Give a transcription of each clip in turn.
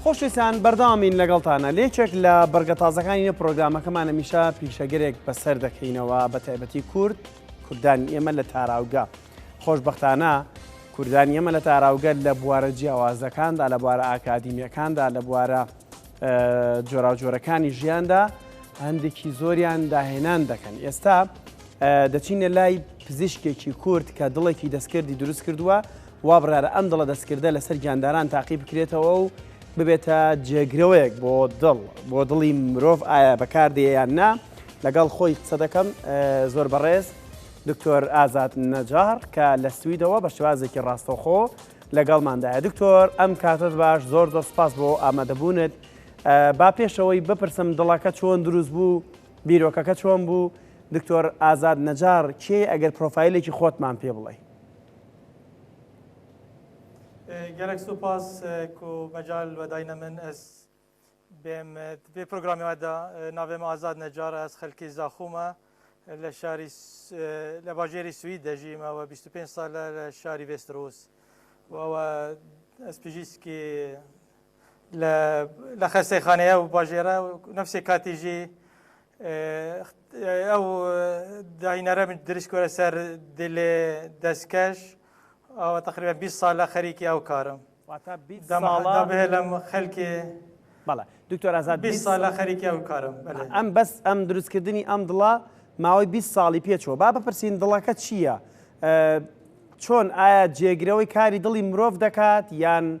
خۆشویستان بەردەوامین لەگەڵتانە لێکێک لە بەرگە تازەکانی نە پرۆگرامەکەمان هەمیشە پیشەگەرێک بەسەر دەکەینەوە بە تایبەتی کورد کوردانی ئێمە لە تاراوگە خۆشببختانە کوردانی ئێمە لە تاراوگە لە بوارە جیاوازەکاندا لە بوارە ئاکادیمیەکاندا لە بوارە جۆراوجۆرەکانی ژیاندا هەندێکی زۆریان داهێنان دەکەن ئێستا دەچینە لای پزیشکێکی کورد کە دڵێکی دەستکردی دروست کردووە وا بڕیارە ئەم دڵە دەستکردە لەسەر گیانداران تاقی بکرێتەوە و ببێتە جێگرەوەیەک بۆ دڵ، بۆ دڵی مرۆڤ ئایا بەکاردێ یان نا؟ لەگەڵ خۆی قسە دەکەم، زۆر بەڕێز دکتۆر ئازاد نەجاڕ کە لە سویدەوە بە شێوازێکی ڕاستەوخۆ لەگەڵماندایە. دکتۆر ئەم کاتەت باش، زۆر زۆر سپاس بۆ ئامادەبوونت. با پێشەوەی بپرسم دڵەکە چۆن دروست بوو، بیرۆکەکە چۆن بوو؟ دکتۆر ئازاد نەجاڕ کێی ئەگەر پرۆفایلێکی خۆتمان پێ بڵێی؟ گەلەک سوپاس کو مەجال وەداینە من ئەس بێم بێ پرۆگرامی وەدا ناوێم ئازاد نەجار ئەس خەلکی زاخومە لە شاری لە باژێری سوید دەژیمەوە 25 سالە لە شاری ڤێسترۆس وەوە ئەس پژیسکی لە لە خەستەی خانەیە و باژێرە و نفسێ کاتیژی ئەو داینەرە من درش کۆرە سەر دلێ دەستکەش ئەوە تقریبا 20 سال لە خەریکی ئەو کارم بهێلم خەلکێ بەڵێ دکتۆر ئازاد 20 سال لە خەریکی ئەو کارم ئەم بەس ئەم دروستکردنی ئەم دڵە ماوەی 20 ساڵی پێچەوە با بپرسین دڵەکە چییە؟ چۆن ئایا جێگرەوەی کاری دڵی مرۆڤ دەکات یان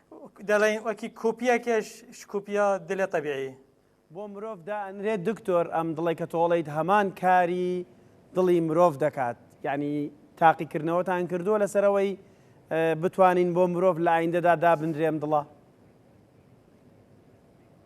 دەڵێن وەکی کۆپیەکەش شکوپیا دلە طبیعی بۆ مرۆڤ دائەنرێت دکتۆر ئەم دڵێک کە تۆڵیت هەمان کاری دڵی مرۆڤ دەکات یعنی تاقیکردنەوەتان کردووە لەسەرەوەی بتوانین بۆ مرۆڤ لە ئایندەدا دابنرێم دڵە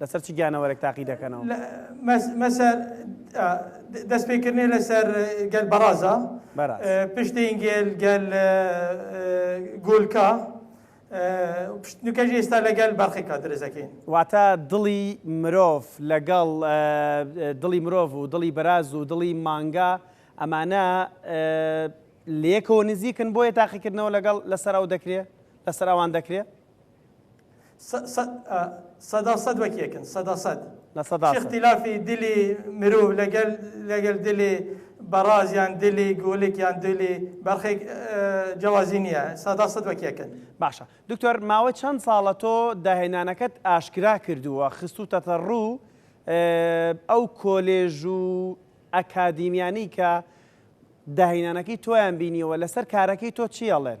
لەسەر چ گیانەوەرێک تاقی دەکەنەوە؟ مەسەر دەستپێکردنێ لەسەر گەل بەڕازا، پشتین گێل گەل گۆلکا، پشتنوکەژ ئێستا لەگەل بەرخێکا درزەکەین. واتە دڵی مرۆڤ لەگەڵ دڵی مرۆڤ و دڵی بەراز و دڵی مانگا ئەمانە لەیەکەوە نزیکن بۆیە تاقیکردنەوە لەگەڵ لەسەر ئەو دەکرێ لەسەر ئەوان دەکرێ؟ سەدا سەد وەک یەکن سەدا سەد لە سەدا سەد اختلافی دلی مرۆڤ لەگەل لەگەل دلی بەڕاز یان دلی گۆلک یان دلی بەرخێک جیاوازی نییە سەدا سەد وەک یەکن باشە دکتۆر ماوە چەند ساڵە تۆ داهێنانەکەت ئاشکرا کردووە خستوتەتە ڕوو ئەو کۆلێژ و ئەکادیمیانی کە داهینانەکەی تۆیان بینیەوە لەسەر کارەکەی تۆ چیەڵێن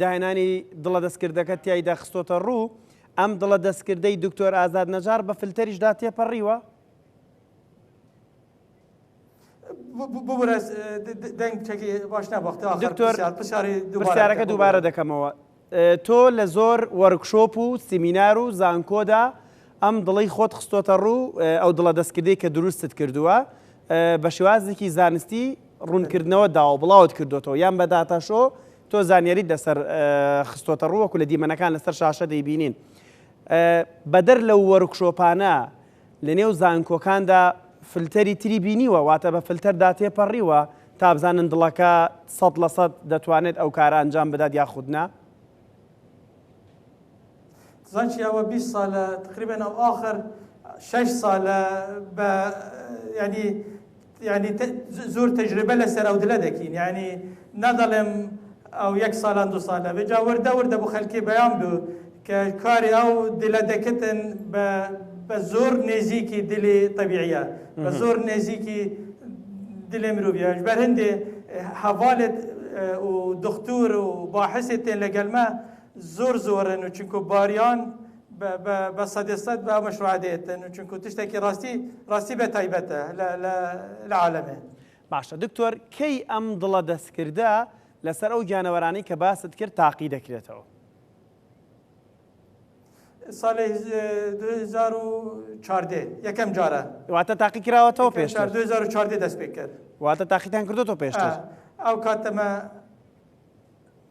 داهێنانی دڵە دەستکردەکە تیایدا خستۆتە ڕوو، ئەم دڵە دەستکردەی دکتۆر ئازاد نەجاڕ بە فلتەریشدا تێپەڕیوە؟ پرسیارەکە دووبارە دەکەمەوە تۆ لە زۆر وەرکشۆپ و سیمینار و زانکۆدا ئەم دڵی خۆت خستۆتە ڕوو ئەو دڵە دەستکردی کە دروستت کردووە بە شێوازێکی زانستی ڕوونکردنەوە داوە بڵاوت کردوێتەوە یان بە داتاشۆ تۆ زانیاریت لەسەر خستۆتەڕوو وەکو لە دیمەنەکان لەسەر شاشە دەیبینین بەدەر لەو وەرکشۆپانە لەنێو زانکۆکاندا فلتەری تری بینیوە واتە بە فلتەردا تێپەڕیوە تا بزانن دڵەکە سەد لە سەد دەتوانێت ئەو کارە ئەنجام بدات یاخودنا زانچی ئەوە بیست سالە تقریبا ئەو ئاخر شش سالە بە ینی ینی زۆر تەجربە لەسەر ئەو دلە دەکین ینی نادەڵێم ئەو یەک سالان دو سالە بێجا وردە وردە بۆ خەلکی بەیان بو کە کاری ئەو دلە دەکتن بە بە زۆر نێزیکی دلی طبیعە بە زۆر نێزیکی دلێ مرۆڤیاش بەر هەندێ هەواڵێت و دختور و باحسێتێن لەگەلمە زۆر زۆرن و چونکو باریان بە سەدێ سەد بە مەشروع دێتن و چونکو تشتێکی ڕاستی ڕاستی بە تایبەتە لە عالەمێ باشە دکتۆر کەی ئەم دڵە دەستکردە لەسەر ئەو گیانەوەرانی کە باست کرد تاقی دەکرێتەوە ساڵی 2014 یەکەم جارە واتە تاقی کراوەتەوە پێش 2014 دەست پێ کرد واتە تاقیتان کردو تۆ پێشتر ئەو کاتەمە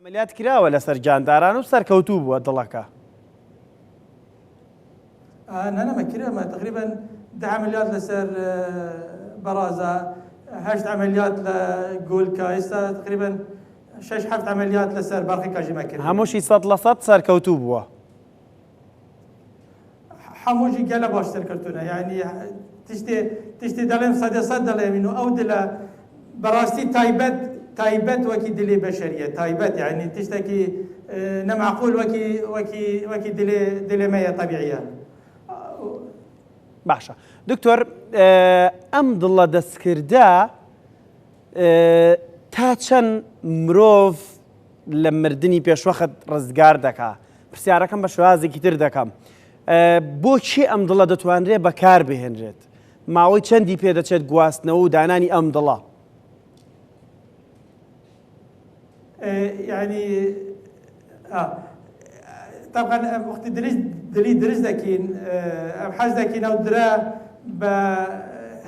عملیات کراوە لەسەر جانداران و سەرکەوتوو بووە دڵەکە نەنەمە کرێمە تقریبا داملیات لەسەر بەڕازە هەشت عملیات لە گۆلکە ئێستا تقریبا شش هەفت عملیات لەسەر باقی کاژیمە کرد هەمووشی سەد لە سەد سەرکەوتوو بووە حەمووشی گەلە باشتر کەلتورە یعنی تشتێ تشتێ دەڵێم سەدە سەد دەڵێمین و ئەو دلە بەڕاستی تایبەت تایبەت وەکی دلی بەشەریە تایبەت یعنی تشتێکی نەماقول وەکی وەکی وەکی دلێ دلێ مەیە طبیعە باشە دکتۆر ئەم دڵە دەستکردە تا چەند مرۆڤ لە مردنی پێشوەخت ڕزگار دەکا پرسیارەکەم بە شێوازێکی تر دەکەم بۆ چی ئەم دڵە دەتوانرێت بەکار بهێنرێت ماوەی چەندی پێدەچێت گواستنەوە و دانانی ئەم دڵە ینی طبعا وقتی درست دلی درست دەکین حەز دەکین ئەو درە بە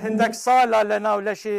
هەندێک ساڵە لە ناو لەشی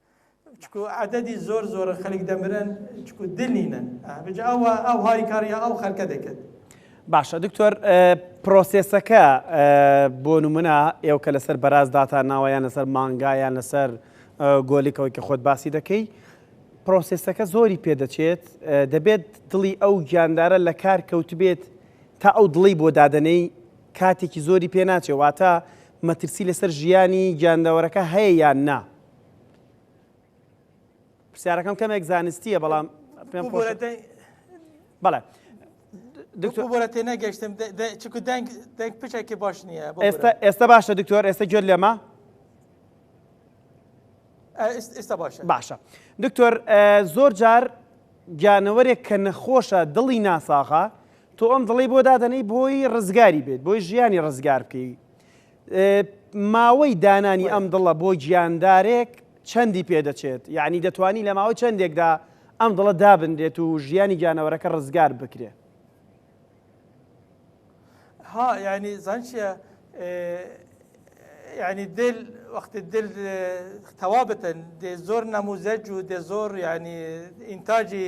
چکو عەدەدی زۆر زۆرە خەلک دەمرن چکو دل نینن بجا ئەو ئەو هاریکاریا ئەو خەلکە دەکرد. باشە دکتۆر پرۆسێسەکە بۆ نمونە ئێو کە لەسەر بەراز داتا ناوە یان لەسەر مانگا یان لەسەر گۆلیکەوەی کە خۆت باسی دەکەی پرۆسێسەکە زۆری پێدەچێت دەبێت دڵی ئەو گیاندارە لە کار کەوتبێت تا ئەو دڵی بۆ دادنەی کاتێکی زۆری پێ ناچێ واتە مەترسی لەسەر ژیانی گیاندەوەرەکە هەیە یان نا پرسیارەکەم کەمێک زانستیە بەڵام پێم بەڵێ بۆرە تێ نەگەشتم چکو دەنگ دەنگ پچێکی باش نییە ئێستا ئێستا باشە دکتۆر ئێستا گوێت لێمە ئێستا باشە باشە دکتۆر زۆر جار گیانەوەرێک کە نەخۆشە دڵی ناساغا تۆ ئەم دڵی بۆ دادەنەی بۆی ڕزگاری بێت بۆی ژیانی ڕزگار بکەی ماوەی دانانی ئەم دڵە بۆ گیاندارێک چەندی پێدەچێت؟ یەعنی دەتوانی لە ماوەی چەندێکدا ئەم دڵە دابنرێت و ژیانی گیانەوەرەکە ڕزگار بکرێت؟ ها یعنی زان چیە یعنی دل وەختی دل تەوا بتن دێ زۆر نەموزەج و دێ زۆر یعنی ئینتاجی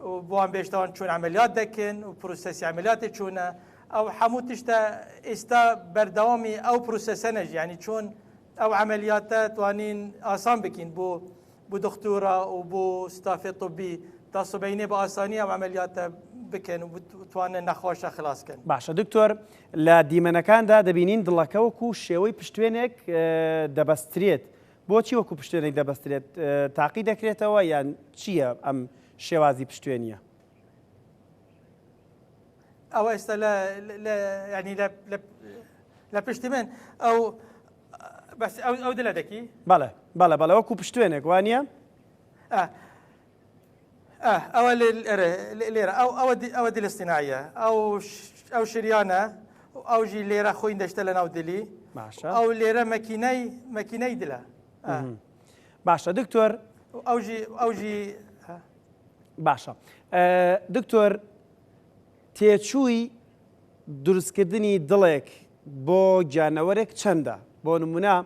و بوان بێشتوان چۆن عەمەلیات دەکن و پروسەسی عەمەلیاتێ چۆنە ئەو حەموو تشتە ئیستا بەردەوامی ئەو پروسەسەنەژ یانی چۆن ئەو عەمەلیاتە توانین ئاسان بکین بۆ بۆ دختورا و بۆ ستافێ طبی تا سبەینێ بە ئاسانی ئەو عەمەلیاتە بکەن و بتوانن نەخۆشە خلاص کەن باشە دکتۆر لە دیمەنەکاندا دەبینین دڵەکە وەکو شێوەی پشتوێنێک دەبەسترێت بۆچی وەکو پشتێنێک دەبەسترێت؟ تاقی دەکرێتەوە یان چییە ئەم شێوازی پشتێنیە؟ ئەوە ئێستا ینی لە پشتی من ئەو بەس ئەو دلە دەکی بەڵێ بەڵە بەڵەوەکو پشتێنێک وانە ئاه ئەوە لێرە ئەوە دیلە سینایە ئەو ئەو شریانە ئەو ژی لێرە خۆین دەشتە لە ناو دلی باشە ئەو لێرە مەکینای مەکینای دلە باشە دکتۆر ئەوژی ئەوژی باشە دکتۆر تێچووی دروستکردنی دڵێک بۆ گیانەوەرێک چەندە؟ بۆ نموونە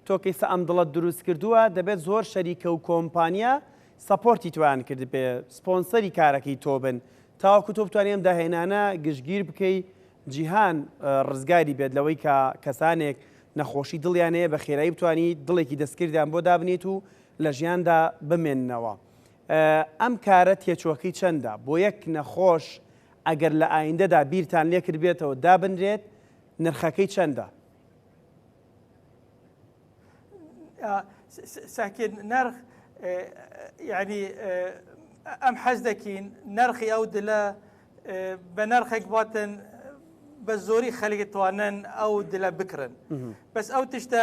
تۆ کەیسە ئەم دڵەت دروست کردووە دەبێت زۆر شەریکە و کۆمپانیا سەپۆرتی تۆیان کردبێ سپۆنسەری کارەکەی تۆ بن تاوەکو تۆ بتوانێ ئەم داهێنانە گشتگیر بکەی جیهان ڕزگاری بێت لەوەی کە کەسانێک نەخۆشی دڵیان هەیە بە خێرایی بتوانیت دڵێکی دەستکردیان بۆ دابنێیت و لە ژیاندا بمێننەوە. ئەم کارە تێچووەکەی چەندە؟ بۆ یەک نەخۆش ئەگەر لە ئایندەدا بیرتان لێکردبێتەوە دابنرێت نرخەکەی چەندە؟ ساکێت نرخ یعنی ئەم حەز دەکەین نرخی ئەو دلە بە نرخێک باتن بە زۆری خەلێک توانن ئەو دلە بکرن بەس ئەو تشتە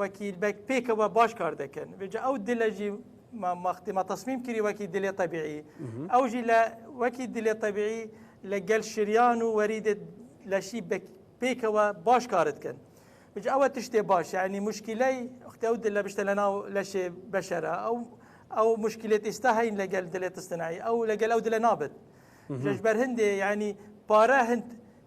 وەکی بەک پێکەوە باش کار دەکەن وێجا ئەو دلەژی مەختی مە تەسمیم کری وەکی دلێ تەبیعی ئەوژی لە وەکی دلێ تەبیعی لە گەل شریان و وەریدێت لەشی پێکەوە باش کارت کەن بج ئەوە تشتێ باش یعنی مشکلەی ئەختی ئەو دلە بشتە لە ناو لەشێ بەشەرە ئەو ئەو مشکلێت ئێستا هەین لەگەل دلێت استنایی ئەو لەگەل ئەو دلە نابێت لەش بەر هەندێ یعنی پارە هەند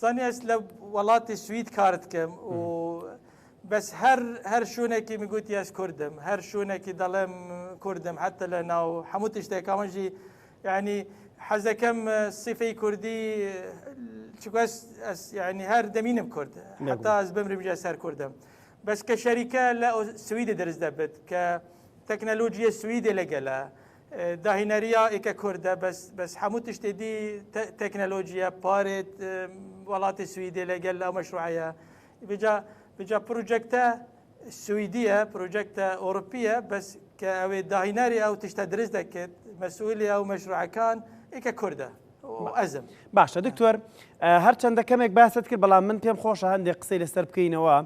زانیش لە وڵاتی سوید کارت کەم و بەس هەر هەر شوونێکی میگوتی ئەس کوردم هەر شوونێکی دەڵێم کوردم حتە لە ناو هەموو تشتێکاوەژی ینی حەزەکەم سیفەی کوردی چگوەس ینی هەر دەمینم کورد حتا ئەس بمرمجە سەر کوردم بەس کە شەریکە لە سویدە دەرز دەبێت کە تەکنەلۆژیە سویدە لەگەلە داهینەریا ئیکە کوردە بەس بەس هەموو تشتێ دی تەکنەلۆژیە پارێت وڵاتی سویدێ لەگەل ئەو مەشروعەیە بجا بجا پروجەکتە سویدیە پروجەکتە ئۆروپیە بەس کە ئەوێ داهیناری ئەو تشتە درز دەکرد مەسئولی ئەو مەشروعەکان ئیکە کوردە ئەزم باشە دکتۆر هەرچەندە کەمێک باست کرد بەڵام من پێم خۆشە هەندێک قسەی لەسەر بکەینەوە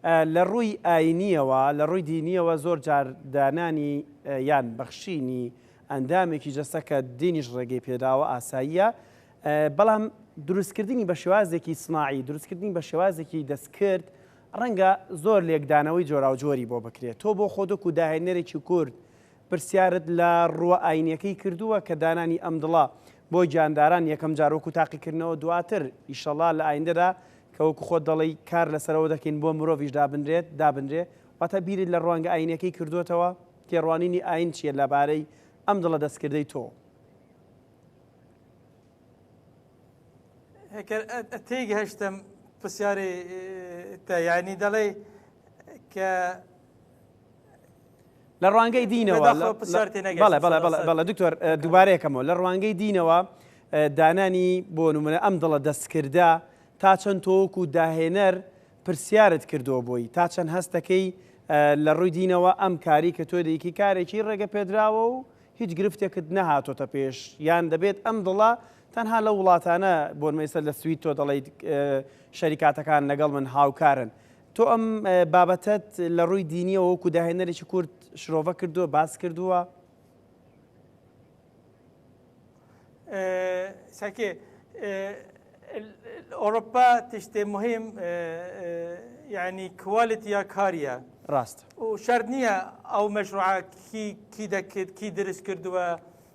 لە ڕووی ئاینییەوە، لە ڕووی دینییەوە زۆر جار دانانی یان بەخشینی ئەندامێکی جەستە کە دینیش ڕێگەی پێ داوە ئاساییە، بەڵام دروستکردنی بە شێوازێکی سناعی، دروستکردنی بە شێوازێکی دەستکرد، ڕەنگە زۆر لێکدانەوەی جۆراوجۆری بۆ بکرێت. تۆ بۆ خۆتۆک و داهێنەرێکی کورد پرسیارت لە ڕووە ئاینیەکەی کردووە کە دانانی ئەم دڵە بۆ گیانداران یەکەم جار وەکو تاقیکردنەوە دواتر ئیشەڵا لە ئایندەدا کە وەکو خۆت دەڵێی کار لەسەرەوە دەکەین بۆ مرۆڤیش دابنرێت دابنرێ واتە بیرت لە ڕوانگە ئاینیەکەی کردووەتەوە؟ تێڕوانینی ئاین چیە لەبارەی ئەم دڵە دەستکردەی تۆ؟ تێگەهشتم پرسیاری تە یعنی دەڵێ کە لە ڕوانگەی دینەوە بەڵێ دکتۆر دووبارەیەکەمەوە لە ڕوانگەی دینەوە دانانی بۆ نمونە ئەم دڵە دەستکردە تا چەند تۆک و داهێنەر پرسیارت کردووە بۆی تا چەند هەستەکەی لە ڕووی دینەوە ئەم کاری کە تۆ دەیکی کارێکی ڕێگە پێدراوە و هیچ گرفتێکت نەهاتۆتە پێش یان دەبێت ئەم دڵە تەنها لە وڵاتانە بۆنمەیسەر لە سوید تۆ دەڵیت شەریکاتەکان لەگەڵ من هاوکارن تۆ ئەم بابەتەت لە ڕووی دینیەوە وەکو داهێنەرێکی کورد شرۆڤە کردووە باس کردووە؟ ساکێ ئۆرۆپا تشتێ مهم یعنی کوالیتی یا کاریە ڕاست و شەر نییە ئەو مەشروعکی کی دەکرد کی درست کردووە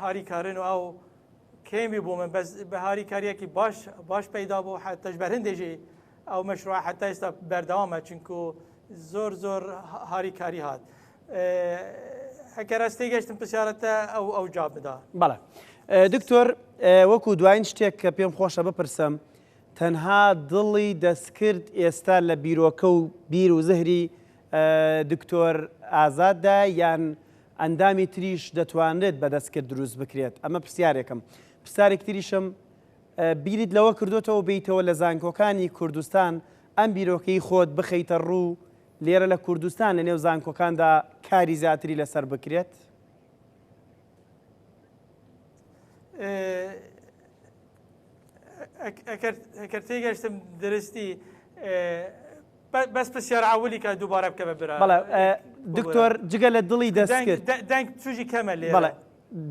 هاری کارن و ئاو کێمی بوو من بەس بە هاری کاریەکی باش باش پەیدا بوو حتەش بەرهندێژی ئەو مەشروع حتا ئێستا بەردەوامە چونکو زۆر زۆر هاری کاری هات ئەکەرەستی گەشتم پرسیارەتە ئەو ئەو جواب بدا بەڵێ دکتۆر وەکو دوایین شتێک کە پێم خۆشە بپرسم تەنها دڵی دەستکرد ئێستا لە بیرۆکە و بیر و زهری دکتۆر ئازاددا یان ئەندامی تریش دەتوانرێت بە دەستکرد دروست بکرێت ئەمە پرسیارێکم پرسارێک تریشم بیریت لەوە کردوتەوە بیتەوە لە زانکۆکانی کوردستان ئەم بیرۆکەی خۆت بخەیتە ڕوو لێرە لە کوردستان لە نێو زانکۆکاندا کاری زیاتری لەسەر بکرێت ئەکرد تێگەشتم درستی بەس پسیار عولی کە دووبارە بکە بە برا بەڵێ دکتۆر جگە لە دڵی دەستکرد دەنگ توژی کەمە لێ بەڵێ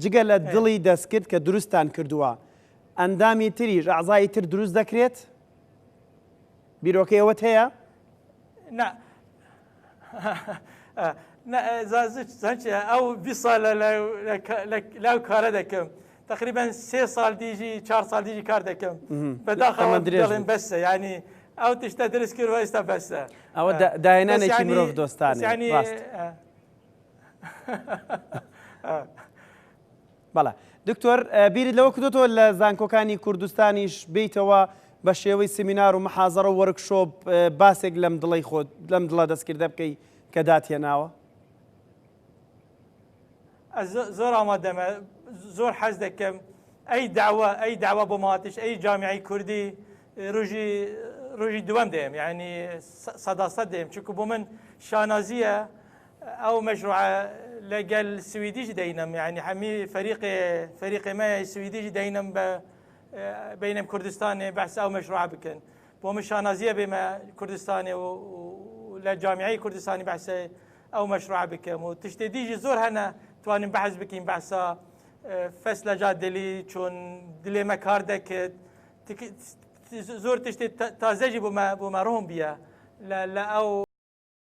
جگە لە دڵی دەستکرد کە دروستان کردووە ئەندامی تریش ئازایی تر دروست دەکرێت بیرۆکەیەوەت هەیە نا زانچ ئەو بی ساڵە لەو کارە دەکەم تەقریبەن سێ ساڵ دیژی چار ساڵ دیژی کار دەکەم بەداخەوە دەڵێن بەسە ینی ئەو تشتە درست کرد ئێستا بەسە ئەوە داهێنانێکی مرۆڤ دۆستان ینی بەڵە دکتۆر بیرت لەوە کردوتەوە لە زانکۆکانی کوردستانیش بیتەوە بە شێوەی سمینار و محازەڕە وەرکشۆپ باسێک لەم دڵی خۆت لەم دڵە دەستکردە بکەی کە داتێناوە زۆر ئامادەمە زۆر حەز دەکەم ئەی داوا ئەی داوا بۆ ماتش ئەی جامیعی کوردی ڕژی ڕژی دووەم دێم یعنی سەداسە دێم چکو بۆ من شانازیە ئەو مەشروع لەگەل سویدیش دەینم یعنی هەمی فەریق فەریقێمە سویدیش دەینم بە بینم کوردستانێ بەس ئەو مەشروع بکەن بۆ من شانازیە بێمە کوردستانێ و لە جامیعی کوردستانی بەسە ئەو مەشروعە بکەم و تشتێ دیژی زۆر هەنە توانین بەحز بکەین بەسا فەس لە جا دلی چۆن دلێمە کار دەکرد زۆر تشتێ تازەژی بۆ مە بۆ مەڕۆم بیە لە لە ئەو